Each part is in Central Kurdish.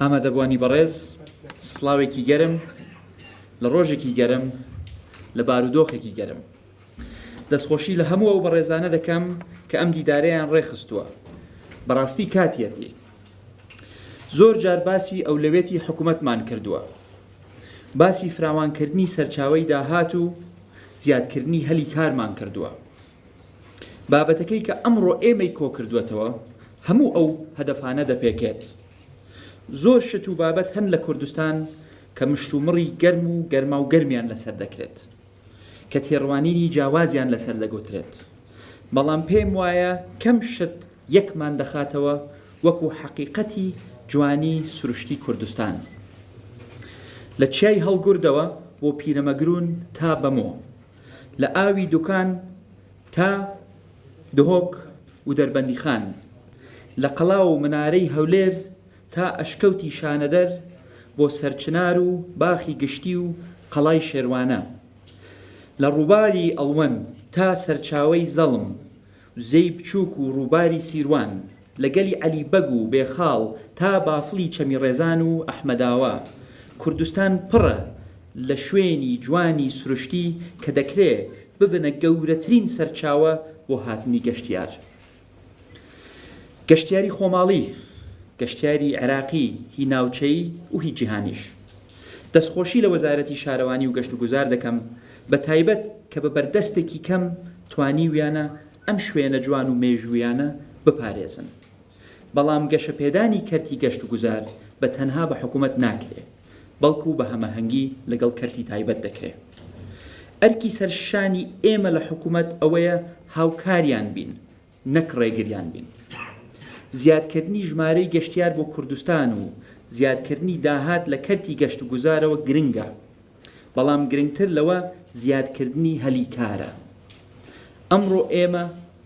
ئامادەبوانی بەڕێز سڵاوێکی گەرم لە ڕۆژێکی گەرم لە بارودۆخێکی گەرم دەستخۆشی لە هەموو ئەو بەڕێزانە دەکەم کە ئەم دیدارەیان ڕێخستووە بەڕاستی کاتیەتی زۆر جار باسی ئەو لەوێتی حکوومەتمان کردووە باسی فراوانکردنی سەرچاوی داهات و زیادکردنی هەلی کارمان کردووە بابەتەکەی کە ئەمڕۆ ئێمەی کۆکردووەتەوە هەموو ئەو هەدەفانە دەپێکێت. زۆر شت و بابەت هەن لە کوردستان کە مشتومڕی گەرم و گەرماو گەرمیان لەسەر دەکرێت، کە تێڕوانینی جیاوازیان لەسەر دەگوترێت، بەڵام پێم وایە کەم شت یەکمان دەخاتەوە وەکو حەقیقەتی جوانی سروشتی کوردستان. لە چیای هەڵگوردەوە بۆ پیرەمەگرون تا بەمۆ، لە ئاوی دوکان تا دهۆک و دەربەندیخان، لە قەڵا و منارەی هەولێر تا ئەشکەوتی شانەدەر بۆ سەرچنار و باخی گشتی و قەڵای شێروانە، لە ڕووباری ئەڵوەن تا سەرچاوەی زەڵم زێی بچووک و ڕووباری سیروان، لە گەلی عەلی بەگ و بێخاڵ تا بافڵی چەمی ڕێزان و ئەحمەداوا، کوردستان پڕە لە شوێنی جوانی سروشتی کە دەکرێ ببنە گەورەترین سەرچاوە بۆ هاتنی گەشتیار. گەشتیاری خۆماڵی، گەشتیاری عێراقی، هی ناوچەیی و هی جیهانیش. دەستخۆشی لە وەزارەتی شارەوانی و گەشتوگوزار دەکەم بە تایبەت کە بە بەردەستێکی کەم توانیویانە ئەم شوێنە جوان و مێژوویانە بپارێزن بەڵام گەشەپێدانی کەرتی گەشتوگوزار بە تەنها بە حکومەت ناکرێ بەڵکو بە هەمەهەنگی لەگەڵ کەرتی تایبەت دەکرێ ئەرکی سەرشانی ئێمە لە حکومەت ئەوەیە هاوکاریان بین نەک ڕێگریان بین. زیادکردنی ژمارەی گەشتیار بۆ کوردستان و زیادکردنی داهات لە کەرتی گەشتوگوزارەوە گرنگە، بەڵام گرنگتر لەوە زیادکردنی هەلی کارە. ئەمڕۆ ئێمە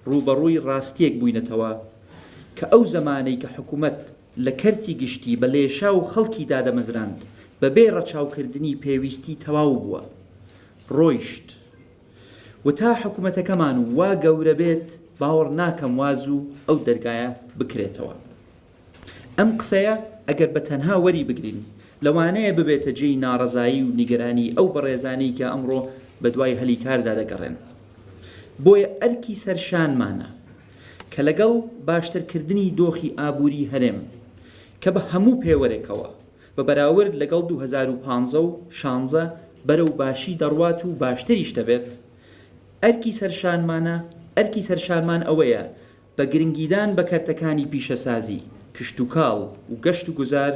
ڕووبەڕووی ڕاستییەک بووینەتەوە کە ئەو زەمانەی کە حکومەت لە کەرتی گشتی بە لێشاو خەڵکی دادەمەزراند بەبێ ڕەچاوکردنی پێویستی تەواو بووە ڕۆیشت. و تا حکومەتەکەمان وا گەورە بێت باوەڕ ناکەم وا زوو ئەو دەرگایە بکرێتەوە. ئەم قسەیە ئەگەر بە تەنها وەری بگرین لەوانەیە ببێتە جێی ناڕەزایی و نیگەرانی ئەو بەڕێزانەی کە ئەمڕۆ بە دوای هەلی کاردا دەگەڕێن. بۆیە ئەرکی سەر شانمانە کە لەگەڵ باشترکردنی دۆخی ئابووری هەرێم کە بە هەموو پێوەرێکەوە بە بەراورد لەگەڵ دوو هەزار و پازدە و شانزە بەرەو باشی دەڕوات و باشتریش دەبێت، ئەرکی سەرشانمانە، ئەرکی سەرشانمان ئەوەیە بە گرنگیدان بە کەرتەکانی پیشەسازی، کشتوکاڵ و گەشتوگوزار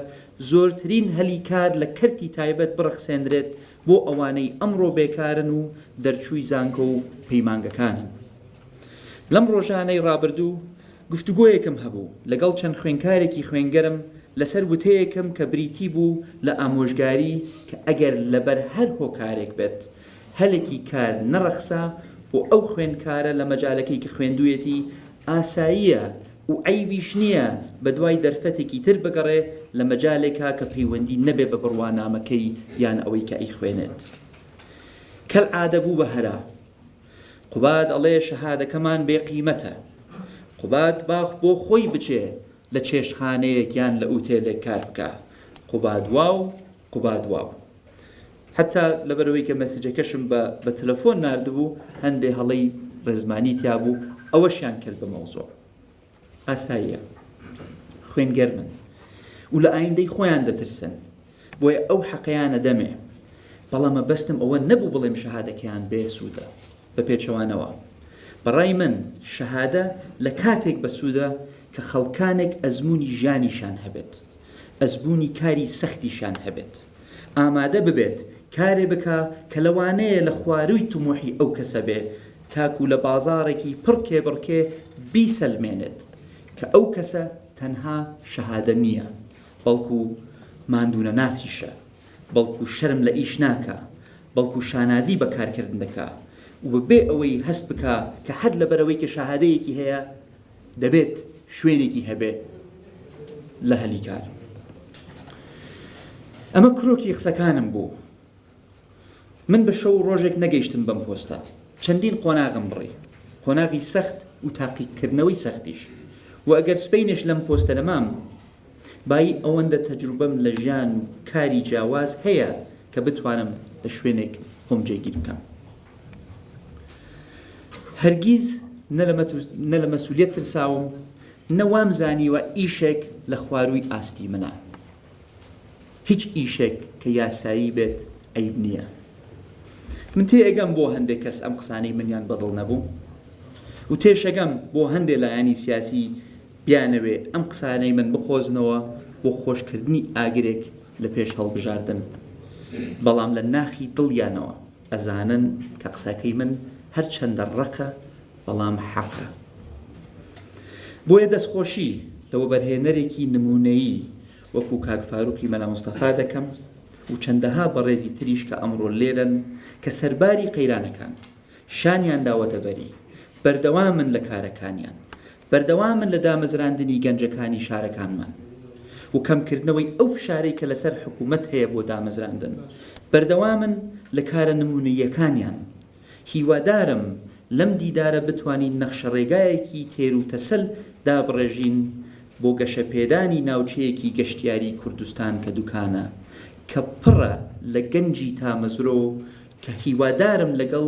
زۆرترین هەلی کار لە کەرتی تایبەت بڕەخسێنرێت بۆ ئەوانەی ئەمڕۆ بێکارن و دەرچووی زانکۆ و پەیمانگەکانن. لەم ڕۆژانەی ڕابردوو گفتوگۆیەکم هەبوو لەگەڵ چەند خوێنکارێکی خوێنگەرم لەسەر وتەیەکم کە بریتی بوو لە ئامۆژگاری کە ئەگەر لەبەر هەر هۆکارێک بێت هەلێکی کار نەڕەخسا بۆ ئەو خوێنکارە لە مەجالەکەی کە خوێندویەتی ئاساییە و عەیبیش نییە بەدوای دەرفەتێکی تر بگەڕێ لە مەجالێکا کە پەیوەندی نەبێ بە بڕوانامەکەی یان ئەوەی کە ئەیخوێنێت کەلعادە بوو بە هەرا قوباد ئەڵێ شەهادەکەمان بێ قیمەتە. قوباد با بۆ خۆی بچێ لە چێشتخانەیەک یان لە ئوتێلێک کار بکا. قوباد واو، قوباد واو. حەتا لەبەرەوەی کە مەسجەکەشم بە بە تەلەفۆن ناردبوو هەندێ هەڵەی ڕێزمانی تیا بوو ئەوەشیان کرد بە مەوزوع. ئاساییە خوێن گەرمن و لە ئایندەی خۆیان دەترسن بۆیە ئەو حەقەیانە دەمێ بەڵام مەبەستم ئەوە نەبوو بڵێم شەهادەکەیان بێسوودە بە پێچەوانەوە بەڕای من شەهادە لە کاتێک بەسوودە کە خەڵکانێک ئەزمموی ژیانیشان هەبێت ئەزبوونی کاری سەختیشان هەبێت ئامادە ببێت کارێ بکە کە لەوانەیە لە خوارووی تمۆحی ئەو کەسە بێ تاکو لە بازاڕێکی پڕ کێبڕکێ بیسەلمێنێت کە ئەو کەسە تەنها شەهادە نییە، بەڵکو ماندوونەناسیشە، بەڵکو شەرم لە ئیش ناکا، بەڵکو شانازی بە کارکردن دەکا و بەبێ ئەوەی هەست بکا کە هەر لەبەرئەوەی کە شەهادەیەکی هەیە دەبێت شوێنێکی هەبێ لە هەلی کار. ئەمە کرۆکی قسەکانم بوو. من بە شەو و ڕۆژێک نەگەیشتم بەم پۆستە، چەندین قۆناغم بڕی، قۆناغی سەخت و تاقیکردنەوەی سەختیش، و ئەگەر سبەینێش لەم پۆستە نەمام، بایی ئەوەندە تەجروبەم لە ژیان و کاری جیاواز هەیە کە بتوانم لە شوێنێک خۆم جێگیر بکەم. هەرگیز نە لە مەسولیەت ترساوم، نە وامزانیوە ئیشێک لە خوارووی ئاستی منە. هیچ ئیشێک کە یاسایی بێت عەیب نیە من تێئەگەم بۆ هەندێ کەس ئەم قسانەی منیان بەدڵ نەبوو و تێشەگەم بۆ هەندێ لایەنی سیاسی بیانەوێ ئەم قسانەی من بقۆزنەوە بۆ خۆشکردنی ئاگرێک لە پێش هەڵبژاردن بەڵام لە ناخی دڵیانەوە ئەزانن کە قسەکەی من هەرچەندە ڕەقە بەڵام حەقە. بۆیە دەستخۆشی لە وەبەرهێنەرێکی نموونەیی وەکوو کاک فاروقی مەلا مستەفا دەکەم و چەندەها بەڕێزی تریش کە ئەمڕۆ لێرەن کە سەرباری قەیرانەکان شانیان داوەتە بەری، بەردەوامن لە کارەکانیان، بەردەوامن لە دامەزراندنی گەنجەکانی شارەکانمان و کەمکردنەوەی ئەو فشارەی کە لەسەر حکوومەت هەیە بۆ دامەزراندن، بەردەوامن لە کارە نموونەییەکانیان. هیوادارم لەم دیدارە بتوانین نەخشەڕێگایەکی تێروتەسەل دابڕێژین بۆ گەشەپێدانی ناوچەیەکی گەشتیاری کوردستان کە دوکانە، کە پڕە لە گەنجی تامەزرۆ کە هیوادارم لەگەڵ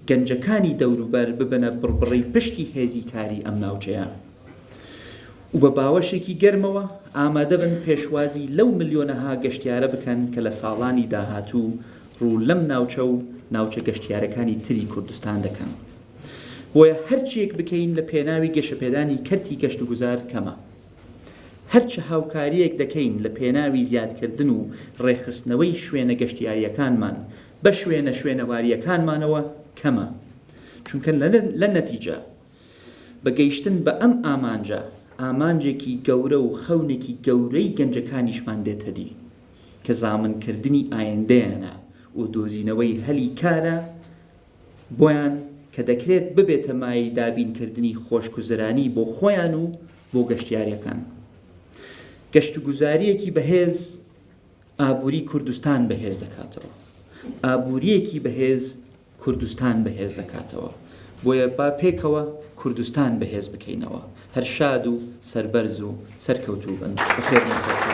گەنجەکانی دەوروبەر ببنە بڕبڕەی پشتی هێزی کاری ئەم ناوچەیە و بە باوەشێکی گەرمەوە ئامادەبن پێشوازی لەو ملیۆنەها گەشتیارە بکەن کە لە ساڵانی داهاتوو ڕوو لەم ناوچە و ناوچە گەشتیارەکانی تری کوردستان دەکەن، بۆیە هەرچییەک بکەین لە پێناوی گەشەپێدانی کەرتی گەشتوگوزار کەمە. هەرچ هاوکارییەک دەکەین لە پێناوی زیادکردن و ڕێکخستنەوەی شوێنە گەشتیارییەکانمان بە شوێنە شوێنەوارییەکانمانەوە کەمە، چونکە لە نەتیجە بە گەیشتن بە ئەم ئامانجە، ئامانجێکی گەورە و خەونێکی گەورەی گەنجەکانیشمان دێتەدی. کە زامنکردنی ئایندەیانە و دۆزینەوەی هەلی کارە بۆیان کە دەکرێت ببێتە مایەی دابینکردنی خۆشگوزەرانی بۆ خۆیان و بۆ گەشتیارەکان. گەشتوگوزارییەکی بەهێز ئابووری کوردستان بەهێز دەکاتەوە. ئابووریەکی بەهێز کوردستان بەهێز دەکاتەوە. بۆیە با پێکەوە کوردستان بەهێز بکەینەوە هەر شاد و سەربەرز و سەرکەوتوو بن بەخێر.